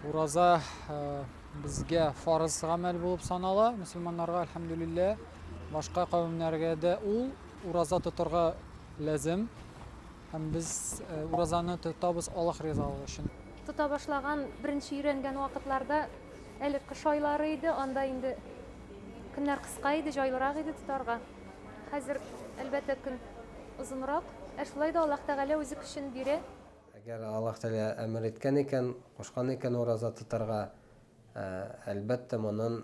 ураза э, безгә фарыз гамәл булып санала мөселманнарга әлхәмдүлиллә башка кавемнәргә дә ул ураза тотарга Ләзем. Һәм без уразаны тотабыз Аллаһ ризалыгы өчен. Тота башлаган, беренче өйрәнгән вакытларда, әле кыш айлары иде, анда инде көннәр кыска иде, җайлырак иде тотарга. Хәзер, әлбәттә, көн озынрак, ә шулай да Аллаһ Тәгалә үзе көчен бирә. Әгәр Аллаһ Тәгалә әмер иткән икән, кушкан икән ураза тотарга, әлбәттә, моннан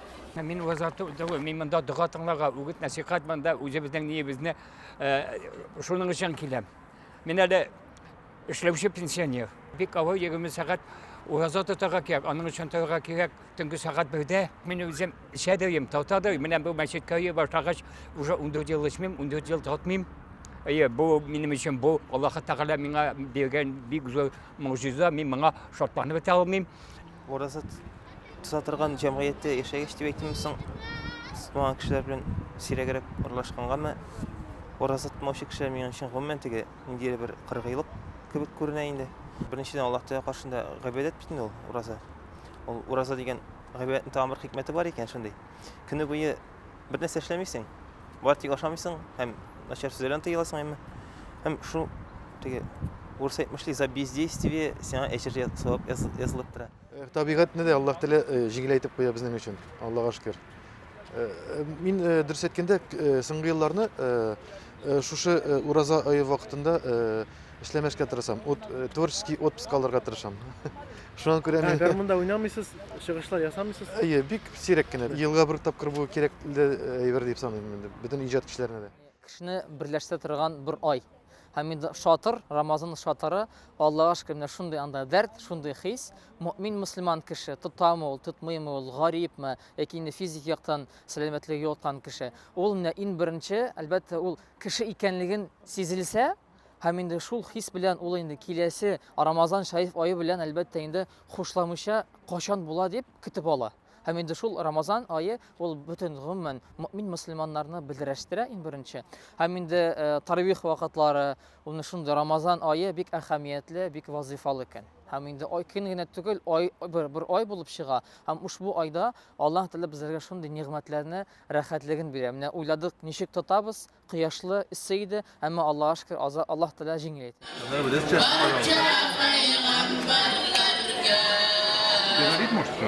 Мин вазаты үтәве, мин монда дога тыңларга, үгет насихат монда үзебезнең ниебезне шуның өчен киләм. Мин әле эшләүче пенсионер. Бик авыр 20 сәгать ураза тотарга кирәк, аның өчен торырга кирәк. Төнге сәгать бердә мин үзем эчәдерим, татадыр. Менә бу мәчеткә йөри башлагач, уже 14 ел эчмим, 14 ел татмыйм. Әйе, бу минем өчен бу Аллаһы Тәгалә миңа биргән бик зур могҗиза. Мин моңа шатланып бетә алмыйм. Ураза тота торган җәмгыятьтә яшәгәч дип әйтимме соң, тотмаган кешеләр белән сирәгрәк аралашкангамы, ураза тотмаучы кешеләр минем өчен гомумән теге ниндидер бер кыргыйлык кебек күренә инде. Беренчедән, Аллаһ Тәгалә каршында гыйбадәт бит инде ул ураза. Ул ураза дигән гыйбадәтнең тагын бер хикмәте бар икән шундый. Көне буе бер нәрсә эшләмисең. Бар тик ашамыйсың һәм начар сүзләрдән тыеласың әмма. Һәм шу теге урыс әйтмешли за бездействие сиңа әҗер савап язылып тора. Э, табигатьне дә Аллаһ теле э, җиңеләйтеп куя безнең өчен. Аллага шөкер. Э, мин дөрес әйткәндә, соңгы елларны шушы ураза ае вакытында эшләмәскә тырышам. Творческий отпуск алырга тырышам. Шуңа күрә мин... Гармунда уйнамыйсыз, чыгышлар ясамыйсыз? Әйе, бик сирәк кенә. Елга бер тапкыр бу кирәк әйбер дип саныйм инде, бөтен иҗат кешеләренә дә. Кешене берләштерә торган бер ай. Һәм инде шатыр, Рамазан шатыры, Аллага шөкер, менә шундый анда дәрт, шундый хис. Мөэмин мөселман кеше, тотамы ул, тотмыймы ул, гарипме, яки инде физик яктан сәламәтлеге югалткан кеше. Ул менә иң беренче, әлбәттә, ул кеше икәнлеген сизелсә, Һәм инде шул хис белән ул инде киләсе Рамазан шәриф ае белән әлбәттә инде хушламыйча качан була дип көтеп ала. Һәм инде шул Рамазан ае ул бөтен гомумән мөмин мөселманнарны берләштерә иң беренче. Һәм инде э, таравих вакытлары, ул шундый Рамазан ае бик әһәмиятле, бик вазифалы көн. Һәм инде ай көн генә түгел, ай бер, бер ай булып чыга. Һәм ушбу айда Аллаһ Тәгалә безләргә шундый нигъмәтләрне, рәхәтлеген бирә. Менә уйладык, ничек тотабыз, кояшлы, эссе иде, әмма Аллага шөкер, аза, Аллаһ Тәгалә җиңел әйт. Говорит, может, что?